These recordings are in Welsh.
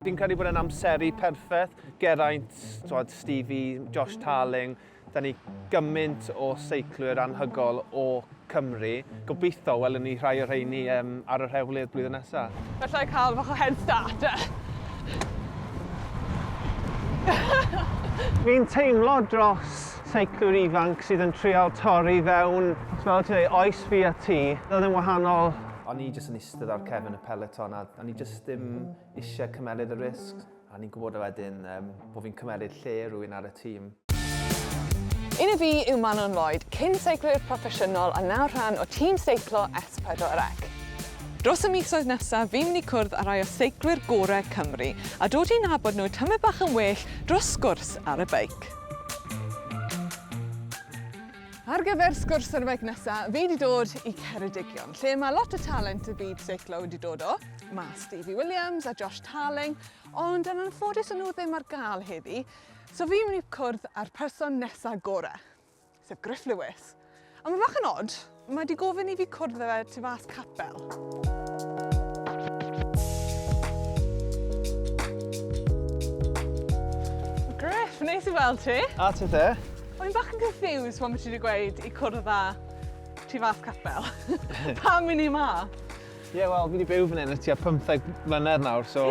Fi'n credu bod e'n amseru perffaith. Geraint, twod, Stevie, Josh Tarling, da ni gymaint o seiclwyr anhygol o Cymru. Gobeithio welwn ni rhai o rheini um, ar yr hewlydd blwyddyn nesaf. Felly cael fach o head starter. Fi'n teimlo dros seiclwyr ifanc sydd yn trial torri fewn, fel ti'n ei oes fi a ti, oedd yn wahanol. O'n i jyst yn eistedd ar cefn y peleton a o'n i jyst ddim eisiau cymeryd y risg a ni'n gwybod wedyn um, bod fi'n cymeryd lle rwy'n ar y tîm. Un y fi yw Manon Lloyd, cyn seiclwyr proffesiynol a nawr rhan o tîm seiclo S4C. Dros y misoedd nesaf, fi'n mynd i cwrdd â rai o seiclwyr gorau Cymru a dod i'n nabod nhw tymau bach yn well dros sgwrs ar y beic. Ar gyfer sgwrs ar y beic nesaf, fi wedi dod i Ceredigion, lle mae lot o talent y byd seiclo wedi dod o. Mae Stevie Williams a Josh Tarling, ond yn anffodus yn nhw ddim ar gael heddi, so fi'n mynd i cwrdd â'r person nesa gore, sef Griff Lewis. A mae fach yn odd, mae wedi gofyn i fi cwrdd â fe tu fas capel. Griff, neis i weld ti. A ti te? O'n i'n bach yn confused pan ti wedi gweud i cwrdd â tu fas capel. Pam i ni ma? Ie yeah, wel, fi wedi byw fan hyn y tua 15 mlynedd nawr, so...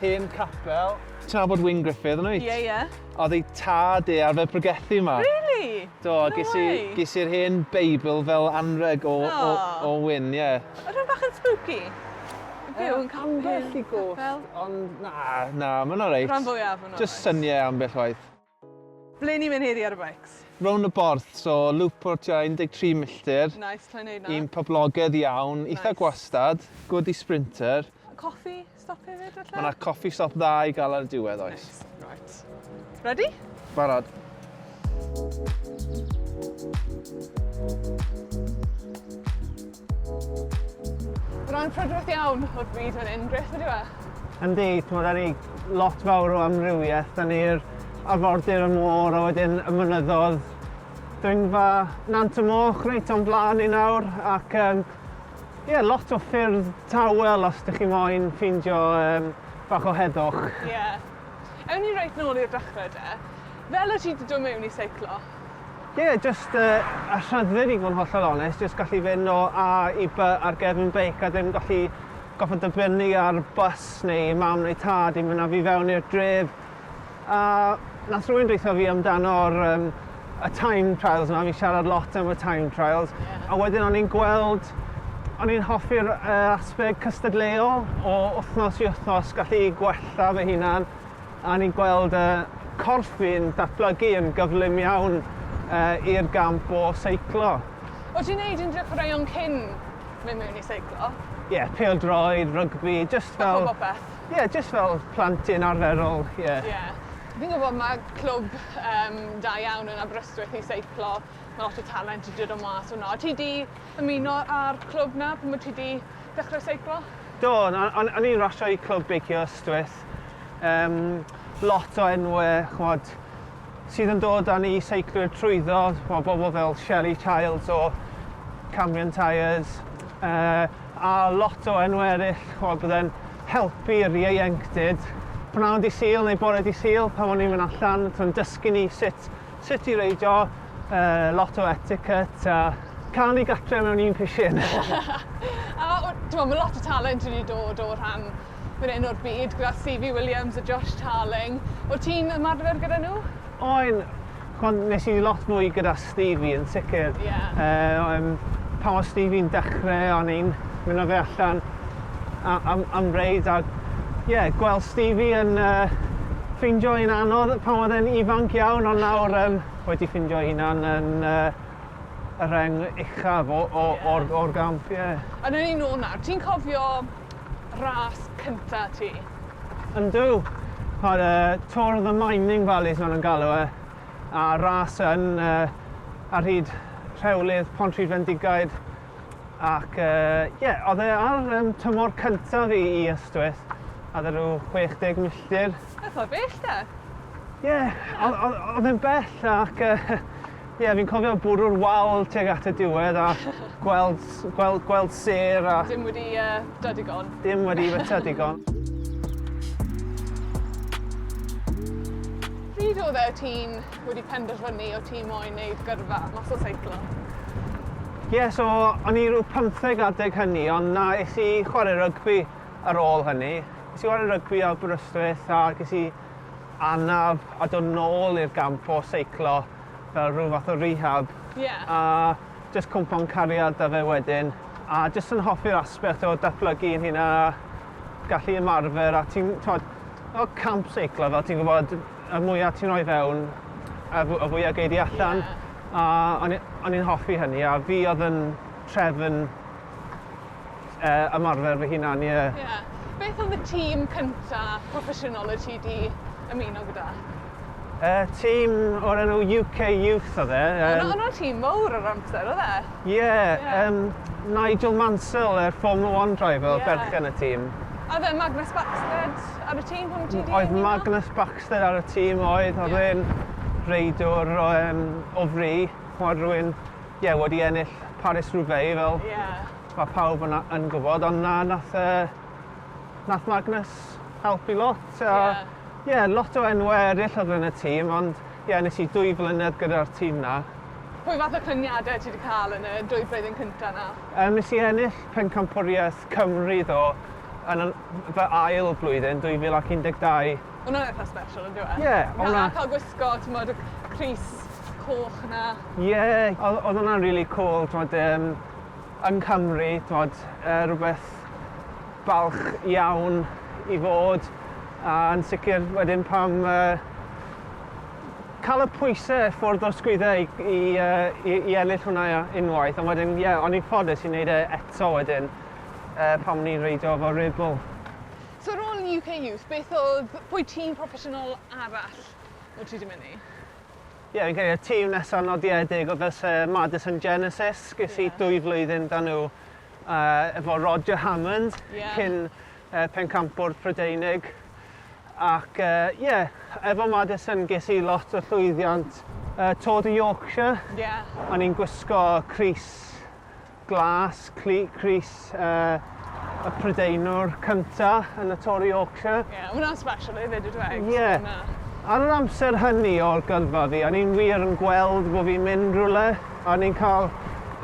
Hen capel. Ti'n nabod Wyn Griffith yn wyt? Ie, ie. Oedd ei tad e arfer pregethu yma. Really? Do, no ges i, ges i'r hen Beibl fel anreg o, oh. o, o Wyn, ie. Yeah. Rwy'n bach yn spooky. Byw yn capel. Ambell i gost, ond na, na, mae'n alright. Rhan fwyaf yn alright. Just syniau ambell waith. Ble ni'n mynd heddi ar y beics? Rownd y Borth, so lŵp o'r tua 13 milltir. Nice, sa i'n neud 'na. Un poblogedd iawn, eitha Nice. gwastad, good i sprinter. Coffi stop hefyd falle? Ma' 'na coffi stop dda i gael ar y diwedd oes. Neis, reit. Ready? Barod. Mae'n prydferth iawn o'r byd fan hyn, grêt ydyw e? Yndi, timod, da ni lot fawr o amrywiaeth, da ni'r arfordir, y môr, a wedyn y mynyddodd. Dringfa Nant y Moch reit o'n blaen ni nawr, ac um, yeah, lot o ffyrdd tawel os ydych chi moyn ffeindio um, bach o heddwch. Ie. Yeah. Ewn ni reit nôl i'r dechrau de. Fel y ti wedi dod mewn i seiclo, Ie, jyst y rhyddid i fod yn hollol onest, jyst gallu fynd o A i By ar gefn beic a ddim gallu gorfod dibynnu ar bws neu mam neu tad i mynd â fi fewn i'r dref. A nath rhywun dweutho fi amdano'r um, y time trials yma, fi'n siarad lot am y time trials, a wedyn o'n i'n gweld O'n i'n hoffi'r uh, aspeg cystadleuol o wythnos i wythnos gallu gwella fy hunan A ni'n gweld y corff fi'n datblygu yn gyflym iawn i'r gamp o seiclo. O't ti'n neud unrhyw chwaraeon cyn mynd mewn i seiclo? Ie, pêl-droed, rygbi, jyst fel... Bach o bopeth? Ie, jyst fel plentyn arferol, ie. Ie. Fi'n gwybod mae clwb yym da iawn yn Aberystwyth i seiclo, mae lot o talent 'di dod o mas o 'na. O't ti 'di ymuno â'r clwb 'na pan o't ti 'di dechre seiclo? Do, na, o'n o'n i'n rasio i clwb beicio Ystwyth. Cymreictod. Yym lot o enwe ch'mod sydd yn dod â ni seiclwyr trwyddo, ch'mo' bobl fel Shelly Childs o Cambrian Tyres yy a lot o enwe eryll ch'mo' bydde'n helpu'r ieuenctid. Pnawn dy' Sul neu bore dy' Sul pan o'n i'n myn' allan t'o' yn dysgu ni sut Sut i reidio, lot o etiquette a cael ei gartre mewn un pishin. A t'mod ma' lot o talent wedi dod o rhan fan 'yn o'r byd gyda Sifi Williams a Josh Tarling. O' ti'n ymarfer gyda nhw? O'n. Ch'mod nes i lot mwy gyda Stevie yn sicir. Ie. Yy o yym pan o' Stevie'n dechre o'n i'n myn' â fe allan am, am reid a ie, gweld Stevie yn uh, ffindio yn anodd pan oedd e'n ifanc iawn ond nawr um, wedi ffindio hunan yn uh, y reng uchaf o, o, yeah. o'r, or gamp, ie. Yeah. A dyn ni'n ôl nawr, ti'n cofio ras cynta ti? Yndw, ar y uh, Tour of the Mining Valleys maen nhw'n galw e, a ras yn uh, ar hyd rhewlydd Pont Rhyd Fendigaid Ac ie, uh, yeah, oedd e ar um, tymor cyntaf i, i Ystwyth, a dda rhyw 60 milltir. Eitha bell da. Ie, yeah, oedd e'n bell ac ie, uh, yeah, fi'n cofio bwrw'r wal tuag at y diwedd a gweld, gweld, gweld ser a... Dim wedi uh, da digon. Dim wedi feta digon. Pryd oedd e ti'n wedi penderfynu o ti moyn neud gyrfa mas o seiclo? Ie, so o'n i rhyw pymtheg adeg hynny ond na, es i chwarae rygbi ar ôl hynny. Es i chwarae rygbi ar Aberystwyth a ges i anaf a dod nôl i'r gamp o seiclo fel rhyw fath o rehab. Ie. A jyst cwmpa'n cariad 'da fe wedyn a jyst yn hoffi'r aspect o datblygu yn hunan a gallu ymarfer a ti'n t'wod fel camp seiclo fel ti'n gwbod Y mwya ti'n rhoi fewn, y fw- y fwya gei di allan. Ie. A o'n i o'n i'n hoffi hynny a fi odd yn trefn yy ymarfer fy hunan ie. Ie. Beth odd y tîm cynta proffesiynol y ti 'di ymuno gyda? Yy tîm o'r enw UK Youth odd e yym... O' 'na tîm mowr o'r amser odd e? Ie yym Nigel Mansell yr Formula One driver odd berchen y tîm. A o'dd e Magnus Backstedt? Wyt, ar y tîm hwn ti 'di... Oedd Magnus Baxter ar y tîm oedd, oedd yeah. e'n reidwr o, um, o fri, chwarae rhywun, ie, yeah, wedi ennill Paris Roubaix fel yeah. mae pawb yn, yn gwybod, ond na, nath, uh, nath Magnus helpu lot. Ie, uh, yeah. yeah, lot o enwau eraill oedd yn y tîm, ond ie, yeah, nes i dwy flynedd gyda'r tîm na. Pwy fath o cyniadau ti wedi cael yn y dwy blwyddyn cyntaf na? Um, nes i ennill pencampwriaeth Cymru ddo, yn fy ail blwyddyn, 2012. Hwnna'n eitha special yndyw e? Ie, o' 'na... Na, cael gwisgo, t'mod, y crys coch 'na. Ie, o'dd o'dd hwnna'n rili cŵl, t'mod yym yng Nghymru, t'mod, yy rwbeth balch iawn i fod, a yn sicr wedyn pan yy ca'l y pwyse ffwrdd o'r sgwydde i i yy i i ennill hwnna unwaith, ond wedyn, ie, o'n i'n ffodus i neud e eto wedyn. Yy pam ni'n reidio efo Red Bull. So ar ôl UK Youth beth odd, pwy tîm proffesiynol arall wt ti di mynd i? Ie fi'n credu y tîm nesa nodiedig o fyse Madison Genesis, ges i dwy flwyddyn da nhw yy efo Roger Hammond cyn yy pencampwr Prydeinig ac yy ie efo Madison ges i lot o llwyddiant yy Tour de Yorkshire o'n i'n gwisgo crys Glas, Crys y Prydeinwr cynta yn y Tor Yorkshire. Ie, yeah, hwnna'n special hefyd ydw e? Ie. Yeah. Ar yr amser hynny o'r gyrfa fi, a ni'n wir yn gweld bod fi'n mynd rhywle, a ni'n cael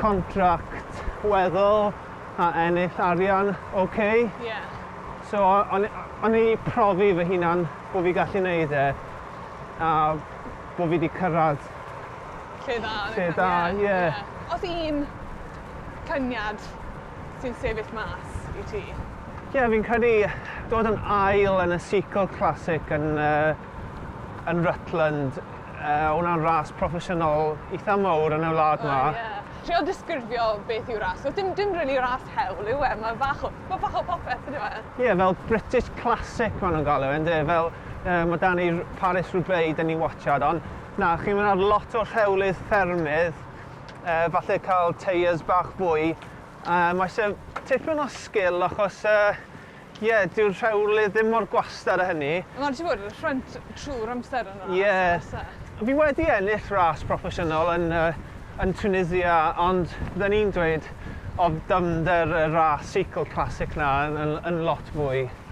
contract weddol a ennill arian oce. Okay. Ie. Yeah. So o'n i profi fy hunan bod fi gallu neud e. A bo' fi 'di cyrradd Lle dda yn y car. Lle da, ie. Os un syniad sy'n sefyll mas i ti? Ie, fi'n credu dod yn ail yn y Seacole Classic yn yy yn Rutland, yy o' wnna'n ras proffesiynol itha mowr yn y wlad 'ma. O ie. Trio disgrifio beth yw ras, does dim dim rili ras hewl yw e, ma' bach o ma' bach o popeth yndyw e? Ie, fel British Classic ma' nhw'n galw e ynde, fel Yy ma da ni Paris Roubaix da ni'n watsiad ond na chi'n mynd ar lot o rhewlydd ffermydd yy falle cael teiers bach fwy yy mae eisiau tipyn o sgil achos yy ie dyw'r rhewlydd ddim mor gwastad a hynny. A ma' raid ti fod yn y ffrynt trwy'r amser yn yr Ie. ASA. Fi wedi ennill ras proffesiynol yn yy yn Tunisia ond fydden i'n dweud o'dd dyfnder y ras seiclo classic 'na yn yn yn lot fwy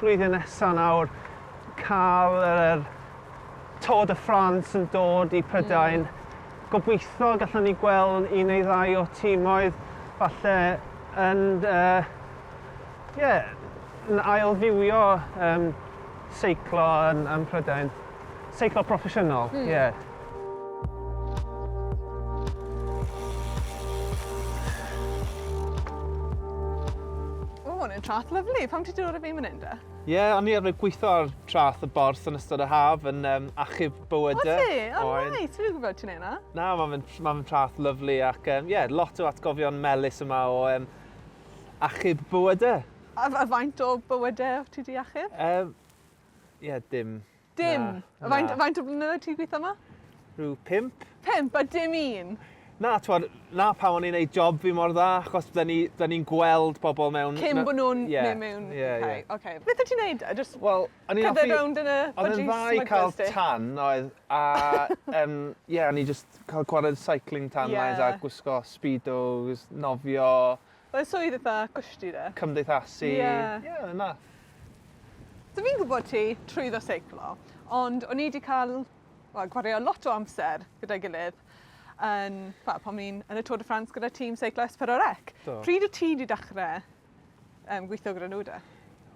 Blwyddyn nesa nawr cael yr Tour de France yn dod i Prydain. Mm. Gobeithio gallwn ni gweld un neu ddau o tîmoedd falle yn uh, yeah, yn ailfywio um, seiclo yn, yn Prydain. Seiclo proffesiynol, hmm. ie. Mm. Yeah. O, hwn yn trath lyflu. Pam ti dod o fi mynd da? Ie, yeah, o'n i arfer gweithio ar trath y bors yn ystod y haf yn um, achub bywydau. O ti? O, oh, nai, ti'n rhywbeth gwybod ti'n ei na? Na, mae'n ma trath lyflu ac ie, um, yeah, lot o atgofion melus yma o um, achub bywydau. A, a faint o bywydau ti di achub? Um, Ie, dim. Dim? Na, faint, na. faint o blynyddoedd ti'n gweithio yma? Rhyw pimp. Pimp, a dim un? Na, twod, na pan o'n i'n neud job fi mor dda, achos da ni'n ni, ni gweld pobl mewn... Cyn bod nhw'n yeah, mynd mewn... Ie, yeah, ie. Okay. Beth ti'n neud? Just well, cerdded rownd yn y Oedd yn dda i cael tan, oedd, a... um, yeah, o'n i just cael gwared cycling tan yeah. lines a gwisgo speedos, nofio, Fel swydd eitha cushy 'de? Cymdeithasu. Ie. Ie yr un math. So fi'n gwbod ti trwyddo seiclo ond o'n i 'di ca'l wel gwario lot o amser gyda'i gilydd yn wel pan o'n i'n yn y Tour de France gyda tîm seiclo Esperorec. Do. Pryd wt ti 'di dechre yym gwitho gyda nhw de?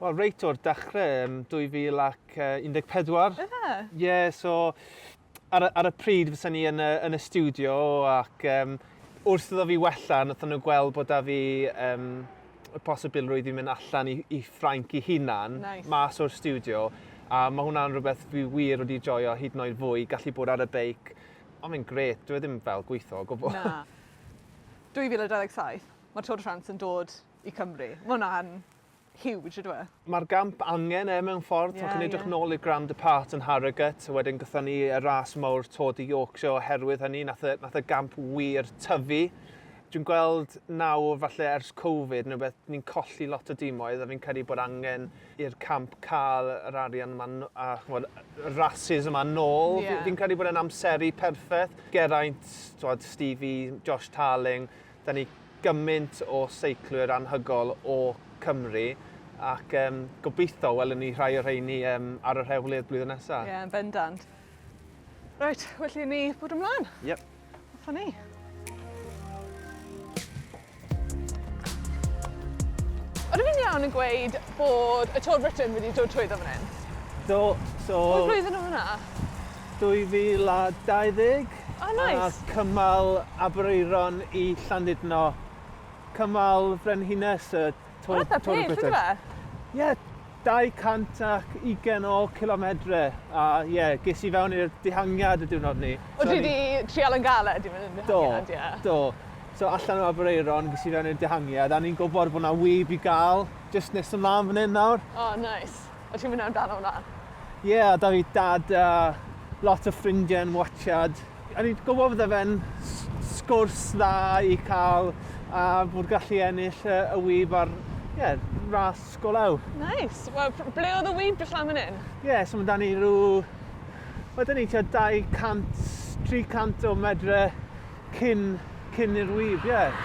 Wel reit o'r dechre yym 2014. Yfe? Ie so ar, y, ar y pryd fysa ni yn y, yn y studio ac um, wrth iddo fi wella, nathon nhw gweld bod da fi um, y posibilrwydd i mynd allan i, i Ffrainc i hunan, nice. mas o'r studio. A mae hwnna'n rhywbeth fi wir wedi joio hyd yn oed fwy, gallu bod ar y beic. Ond mae'n gret, dwi e ddim fel gweithio o gwbl. Na. 2027, mae'r Tour de France yn dod i Cymru. Mae hwnna'n huge ydyw e? Mae'r gamp angen e mewn ffordd. Ie, ie. Chi'n edrych nôl i'r Grand Depart yn Harrogate, a wedyn gyda ni y ras mawr Tour de Yorkshire oherwydd hynny, nath y, nath y gamp wir tyfu. Dwi'n gweld nawr, falle ers Covid, neu beth, ni'n colli lot o dimoedd, a fi'n credu bod angen i'r camp cael yr arian yma, a chymod, y rhasys yma nôl. Yeah. Fi'n credu bod e'n amseru perffaith. Geraint, Stevie, Josh Tarling, 'da ni gymaint o seiclwyr anhygol o Cymru ac yym gobeitho welwn ni rhai o rheini yym ar yr hewl i'r blwyddyn nesa. Ie yn bendant. Reit, well i ni bod ymlaen. Yep. Hoffwn ni. Ydw i'n iawn yn gweud bod y Tour Britain wedi dod trwyddo fan hyn? Do, so... Pwy flwyddyn oedd hwnna? 2020. O neis! A cymal Aberaeron i Llandudno, cymal Frenhines y Tour... Ma'n itha pell on'd yw e? Ie, 220 o cilomedre a ie ges i fewn i'r dihangiad y diwrnod 'ny. O ti 'di trial yn galed i fynd i'r dihangiad ie? Do do. So allan o Aberaeron ges i fewn i'r dihangiad a o'n i'n gwbod bo' 'na wib i ga'l jyst nes ymlan fan 'yn nawr. O neis. Wyt ti'n mynd amdano hwnna? Ie, yeah, da fi dad a lot o ffrindiau yn watchad. A ni'n gwybod fydde fe'n sgwrs dda i cael a bod gallu ennill y, y wyb ar yeah, ras golau. Nice. Wel, ble oedd y wyb dros fan hyn? Ie, yeah, so mae da ni rhyw... Mae da ni tua 200, 300 o medre cyn, cyn i'r wyb, ie. Yeah.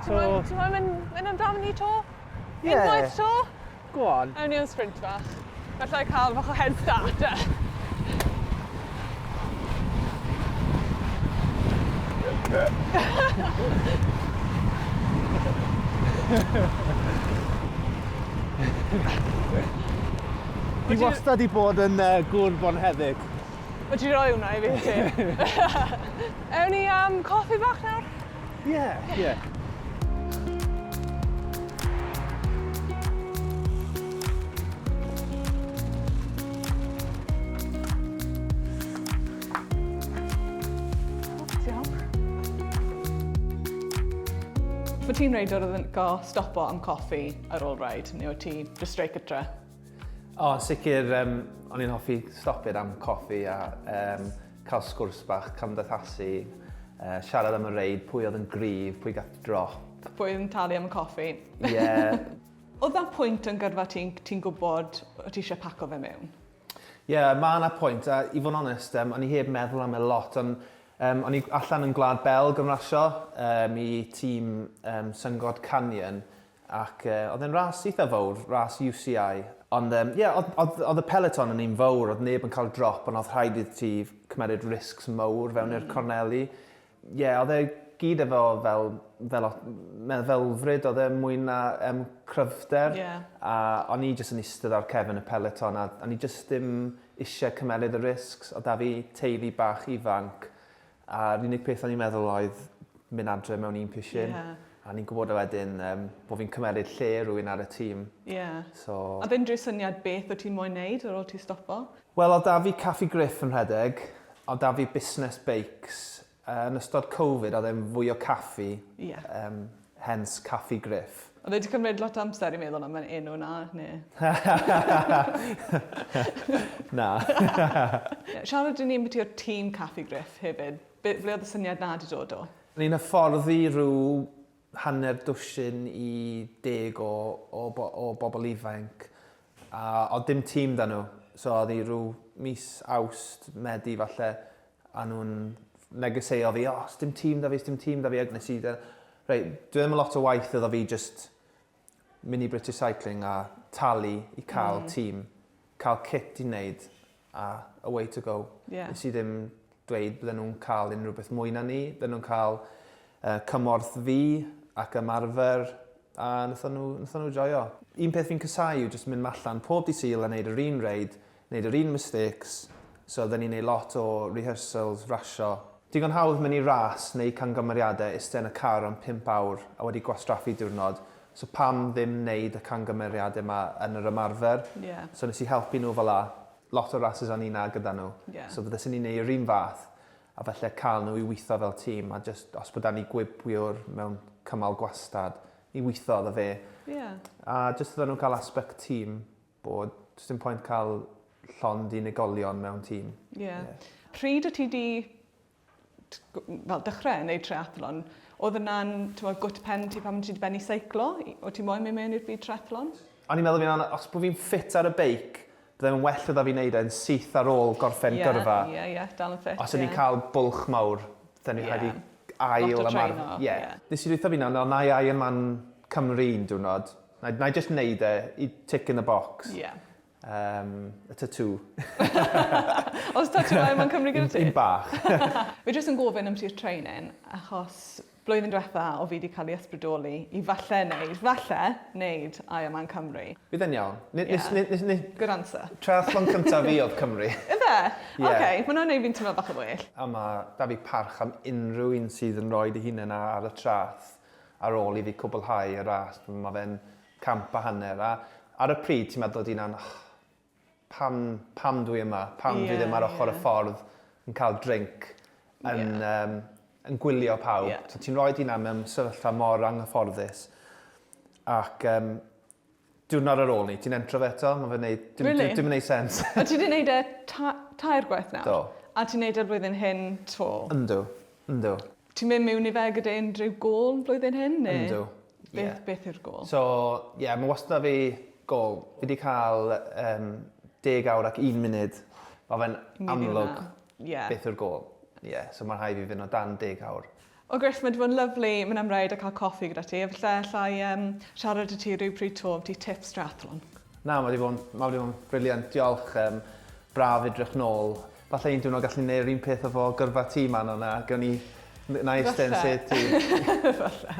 So... Ti'n mynd amdano ni to? Yeah. Unwaith to? Go on. Ewn ni am sprint bach. Gallai cael bach o head start de. Fi wastad i bod yn uh, gŵr bonheddig. O ti roi hwnna i fi ti? Ewn ni am coffi bach nawr? Yeah, yeah. yeah. Fy ti'n reidwr oedd yn go stopo am coffi ar ôl rhaid, neu oedd ti just straight gytre? O, oh, sicr, um, o'n i'n hoffi stopio am coffi a um, Cael sgwrs bach, cymdeithasu, siarad am y reid, pwy oedd yn gryf, pwy gath drop. Pwy oedd yn talu am y coffi. Ie. Oedd na pwynt yn gyrfa ti, ti'n gwybod o ti eisiau paco fe mewn? Ie, yeah, mae yna pwynt, a i fod yn onest, um, o'n i heb meddwl am e lot, ond um, o'n i allan yn Gwlad Belg yn rasio um, i tîm um, Syngod Canyon, Ac yy oedd e'n ras eitha fowr, ras UCI. Ond yym ie oedd oedd oedd y peloton yn un fowr, oedd neb yn cael drop ond oedd rhaid iddi ti cymeryd risks mowr fewn i'r corneli. Ie oedd e gyd efo fel fel o- meddylfryd oedd e mwy na yym cryfder. Ie. A o'n i jyst yn istedd ar cefn y peloton a o'n i jyst dim isie cymeryd y risks. Oedd 'da fi teulu bach ifanc A'r unig peth o'n i'n meddwl oedd mynd adre mewn un pishyn. Ie. A ni'n gwybod wedyn yym bo' fi'n cymeryd lle rhywun ar y tîm. Ie. So... Odd unrhyw syniad beth o' ti'n moyn neud ar ôl ti stopo? Wel odd 'da fi Caffi Griff yn rhedeg, odd 'da fi busnes beics. Yn ystod Covid odd e'n fwy o caffi. Ie. Yym Hence Caffi Griff. Oedd e 'di cymryd lot o amser i meddwl am yr enw 'na, neu? Na. Siarad i ni ambiti y tîm Caffi Griff hefyd. Be- ble oedd y syniad 'na 'di dod o? Ni'n hyfforddi rhyw hanner dwsin i deg o o bo- o bobl ifainc, a o'dd dim tîm 'da nhw. So o'dd 'i rhyw mis Awst, Medi falle, a nhw'n negeseuo fi, o, sdim tîm da fi, sdim tîm da fi, ac nes i, reit, dwi ddim yn lot o waith iddo fi just mynd i British Cycling a talu i cael mm. tîm, cael kit i wneud a away to go. Yeah. Nes i ddim dweud bydden nhw'n cael unrhyw beth mwy na ni, bydden nhw'n cael uh, cymorth fi ac ymarfer a wnaethon nhw, nhw joio. Un peth fi'n cysau yw jyst mynd allan pob di syl a wneud yr un reid Neud yr un mistakes, so odden ni'n neud lot o rehearsals, rasio. Digon hawdd mynd i ras neu cangymeriade iste yn y car am pump awr a wedi gwastraffu diwrnod, so pam ddim neud y cangymeriade ma yn yr ymarfer? Ie. So nes i helpu nhw fel 'a. Lot o rasys o'n i'n na gyda nhw. Ie. So fyddeson ni'n neud yr un fath a falle ca'l nhw i witho fel tîm a jyst os bo 'da ni gwibwiwr mewn cymal gwastad i witho iddo fe. Ie. A jyst iddo nhw ca'l aspect tîm. Bod, does dim pwynt cael llond unigolion mewn tîm. Ie. Yeah. Yeah. Pryd o ti di fel dechrau yn ei triathlon, oedd yna'n gwt pen ti pan ti wedi benni seiclo? O ti moyn mynd mewn i'r byd triathlon? O'n i'n meddwl fi'n anna, os bod fi'n ffit ar y beic, byddai'n well oedd a fi wneud e'n syth ar ôl gorffen yeah, gyrfa. Ie, yeah, ie, yeah, dal yn ffit. Os o'n yeah. i'n cael bwlch mawr, dyn ni'n yeah. rhaid i ail ymarfer. Yeah. yeah. Nes i rwytho fi'n anna, ond na i ail yn man Cymru un diwrnod, Nai, nai jyst neud e i tick in the box. Ie. Yeah. Um, y tatŵ. Os tatŵ ai mae'n cymryd gyda ti? Un bach. Fi jyst yn gofyn am ti'r training, achos blwyddyn diwetha o fi wedi cael ei ysbrydoli i falle wneud, falle wneud I am Cymru. Bydd yn iawn. N yeah. nes, nes, nes, Good answer. Triathlon cyntaf fi oedd Cymru. Ife? yeah. Oce, okay, mae'n gwneud fi'n teimlo bach yn well. A mae da fi parch am unrhyw un sydd yn rhoi dy hunain ar y trath. ar ôl i fi cwblhau y ras, mae fe'n camp a hanner, a ar y pryd ti'n meddwl di'n an, oh, pam, pam dwi yma, pam yeah, dwi ddim ar ochr yeah. y ffordd yn cael drink, yn, yeah. um, yn gwylio pawb. Yeah. So, ti'n rhoi di'n am mewn sefyllfa mor anghyfforddus. Ac um, Diwrnod ar ôl 'ny, ti'n entro fe eto? Ma' fe'n neud... Dim yn... Rili? ...dim yn neud sense. O ti 'di neud e ta- tair gwaith nawr? Do. A ti'n neud e flwyddyn hyn 'to? Yndw. Yndw. Ti'n myn' miwn i fe gyda unrhyw gôl flwyddyn hyn ne'... Yndw. Ie. ...beth beth yw'r gôl? So ie ma' wastad 'da fi gôl. Fi 'di ca'l yym deg awr ac un munud. Ma' fe'n amlwg... Myn' i wnna. Ie. ...beth yw'r gôl. Ie so ma' rhai' fi fyn' o dan deg awr. O Chris, mae 'di bod yn lyfli mynd am reid a cael coffi gyda ti. Efallai alla i um, siarad i ti rhywbryd to am ti tips triathlon. Na, mae 'di bod yn, mae 'di bod yn briliant. Diolch, um, braf edrych nôl. Falle un diwrnod gallu neud yr un peth efo gyrfa ti man o'na, gawn ni, na i iste yn sedd ti. Falle.